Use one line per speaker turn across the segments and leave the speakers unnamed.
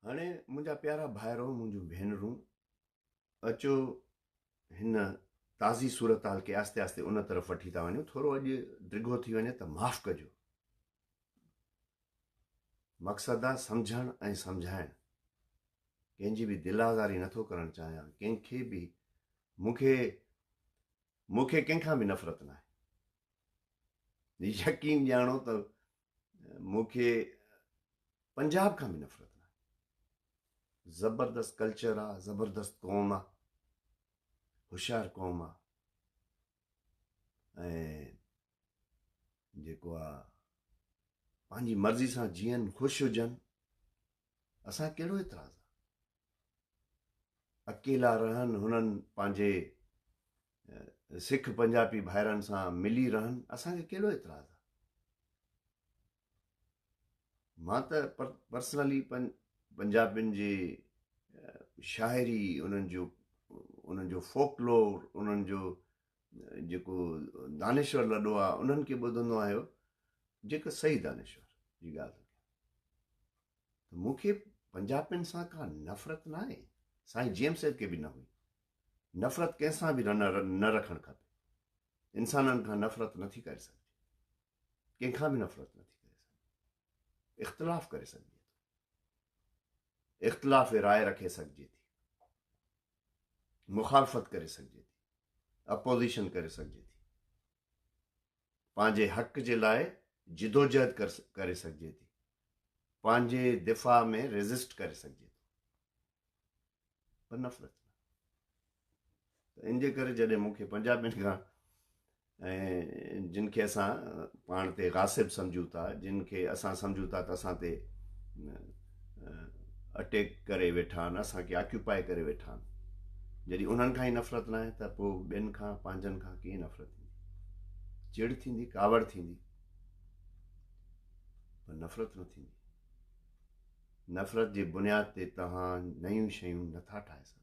هاڻي منهنجا پيارا ڀائرو، منهنجون ڀينرون، اچو هن تازي صورتحال کي آهستي آهستي ان طرف وٺي ٿا وڃون ٿورو اڄ ڊگهو ٿي وڃي ته معاف ڪجو مقصد آ سمجھڻ ۽ سمجھائڻ ڪنهن جي به دل آزاري نٿو ڪرڻ چاهيان ڪنهن کي به مون کي مون کي ڪنهن کان به نفرت ناهي يقين ڄاڻو ته مون کي پنجاب کان به نفرت ناهي زبردست ڪلچر آ زبردست قوم آ هوشيار قوم آ ۽ جيڪو آ پنهنجي مرضي سان جيئن خوش هجن اسان کي ڪهڙو اعتراض آ. اڪيلا رهن هنن پنهنجي سک پنجابي ڀائرن سان ملي رهن اسان کي ڪهڙو اعتراض آ. مان ته پرسنلي پنجابين جي شاعري انهن جو انهن جو فوڪلور انهن جو جيڪو دانشور لڏو آ انهن کي ٻڌندو آهيو جيڪو صحيح دانشور جي ڳالهه ته مون کي پنجابين سان ڪا نفرت نه آهي سائين جي ايم سيد کي به نه هئي نفرت ڪنهن سان به نه رکڻ کپي انسانن کان نفرت نٿي ڪري سگهجي ڪنهن کان به نفرت نٿي ڪري سگهجي اختلاف ڪري سگهجي اختلاف رائے رکي سگهجي ٿي مخالفت ڪري سگهجي ٿي، اپوزيشن ڪري سگهجي ٿي، پنهنجي حق جي لاء جدوجهد ڪري سگهجي ٿي، پنهنجي دفاع ۾ ريزسٽ ڪري سگهجي ٿو پر نفرت ان جي ڪري جڏهن مون کي پنجابين کان ۽ جن کي اسان پاڻ تي غاصب سمجهون ٿا، جن کي اسان سمجهون ٿا ته اسان تي اٽيڪ ڪري ويٺا آهن، اسان کي آڪيوپائي ڪري ويٺا آهن، جڏهن انهن کان ئي نفرت ناهي ته پوء ٻين کان، پنهنجن کان ڪيئن نفرت ٿيندي؟ چڙ ٿيندي، ڪاوڙ ٿيندي، پر نفرت نه ٿيندي. نفرت جي بنياد تي توهان نيون شيون نٿا ٺاهي سگهو.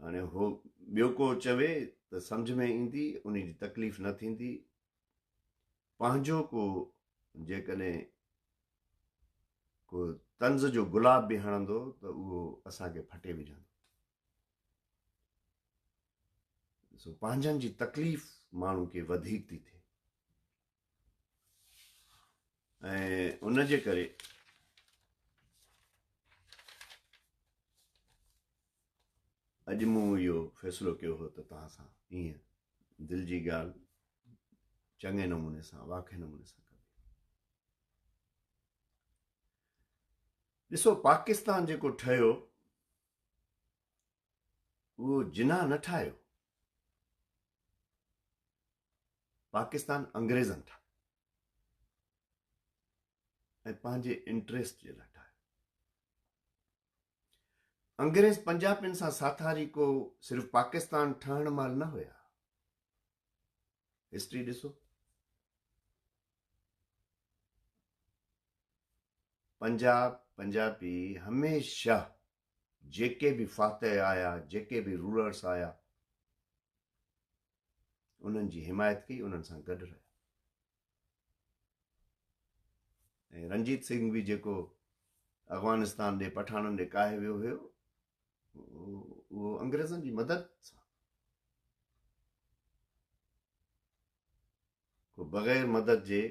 هاڻي هو ٻيو ڪو چوي ته سمجھ ۾ ايندي ان جي تڪليف نه ٿيندي پنهنجو ڪو جيڪڏهن ڪو طنز جو گلاب به هڻندو ته اهو اسانکي ڦٽي وجھندو سو پنهنجن جي تڪليف ماڻهو کي وڌيڪ ٿي ٿئي ۽ ان جي ڪري اڄ مون اهو فيصلو ڪيو هو ته توهان سان ائين دل جي ڳالهه چڱي نموني سان واقعي نموني سان ڏسو پاڪستان جيڪو ٺهيو اهو جناح نه ٺاهيو، پاڪستان انگريزن ٺاهيو ۽ پنهنجي انٽريسٽ جي لاء ٺاهيو. انگريز پنجابين سان ساٿاري ڪو صرف پاڪستان ٺهڻ مهل نه هيا هسٽري ڏسو پنجاب پنجابي هميشه جيڪي به فاتح آيا جيڪي به رولرس آيا انهن جي حمايت ڪئي انهن سان گڏ رهيا ۽ رنجيت سنگھ به جيڪو افغانستان ڏي پٺاڻن ڏي ڪاهي ويو هيو اهو انگريزن جي مدد سان ڪو بغير مدد جي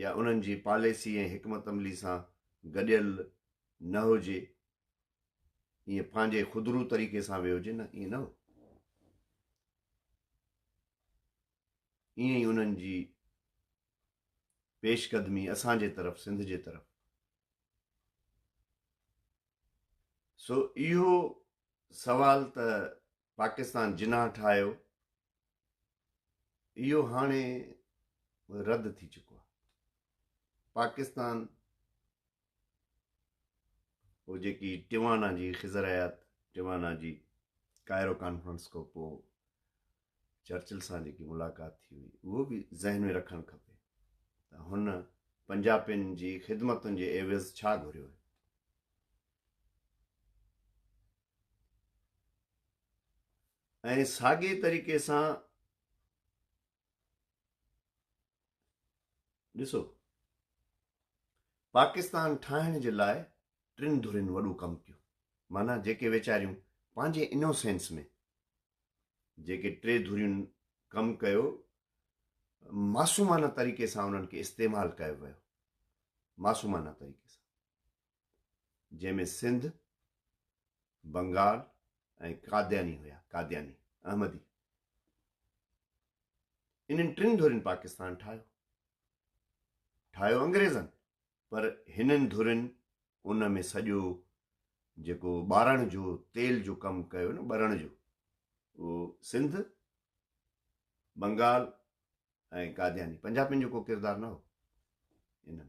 يا انهن جي پاليسي ۽ حڪمت عملي سان گڏيل نه هجي ائين پنهنجي خودرو طريقي سان ويو هجي نه ائين نه هو ائين ئي انهن جي پيش قدمي اسان جي طرف سنڌ جي طرف سو اهو سوال ته پاڪستان جناح ٺاهيو اهو هاڻي رد ٿي چڪو آهي پاڪستان هو جيڪي ٽوانا جي خزر حيات ٽوانا جي ڪائرو کانفرنس کان پوء چرچل سان جيڪي ملاقات ٿي هئي اهو به ذهن ۾ رکڻ کپي ته هن پنجابين جي خدمتن جي عيوض ڇا گهريو هو ۽ ساڳي طريقي سان ڏسو پاڪستان ٺاهڻ جي لاء ٽن ڌرين وڏو ڪم ڪيو مانا جيڪي ويچاريون پنهنجي انوسينس ۾ جيڪي ٽي ڌرين ڪم ڪيو معصومانه طريقي سان انهن کي استعمال ڪيو ويو معصومانه طريقي سان جنهن ۾ سنڌ، بنگال ۽ قادياني هيا، قادياني، احمدي. انهن ٽن ڌرين پاڪستان ٺاهيو. ٺاهيو انگريزن پر هنن ڌرين ان ۾ سڄو جيڪو ٻارڻ جو تيل جو ڪم ڪيو نه ٻرڻ جو اهو سنڌ، بنگال ۽ قادياني، پنجابين جو ڪو ڪردار نه هو انهن.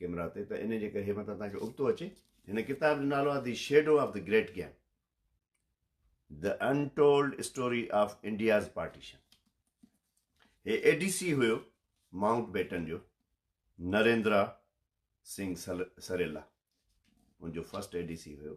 ڪيمرا تي ته ان جي ڪري هي متان تهانکي ابتو اچي هن ڪتاب جو نالو آهي the shadow of the great game the untold story of India's partition هي اي ڊي سي هيو ماؤنٽ بيٽن جو نريندرا سنگھ سريلا ان جو فرسٽ اي ڊي سي هيو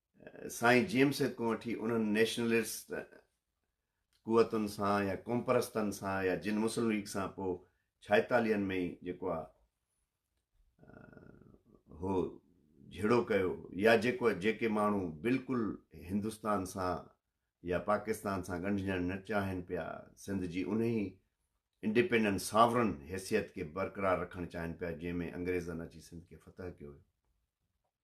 سائين جيمس سيد کان وٺي انهن نيشنلسٽ قوتن سان يا قومپرستن سان يا جن مسلم ليگ سان پوء ڇائيتاليهن ۾ ئي جيڪو آ هو جھڙو ڪيو يا جيڪو جيڪي ماڻهو بلڪل هندستان سان يا پاڪستان سان ڳنڍجڻ نه چاهين پيا سنڌ جي انهي انڊيپينڊنٽ ساورن حيثيت کي برقرار رکڻ چاهين پيا جنهن ۾ انگريزن اچي سنڌ کي فتح ڪيو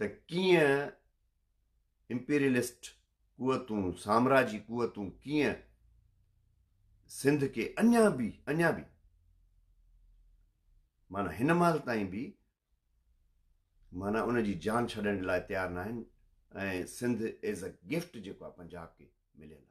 ته ڪيئن امپيريلسٽ قوتون، سامراجي قوتون ڪيئن سنڌ کي اڃا به اڃا به معنيٰ هن مهل تائين به معنيٰ ان جي جان ڇڏڻ لاء تيار نه آهن ۽ سنڌ ايز اي گفٽ جيڪو آهي پنجاب کي مليل آهي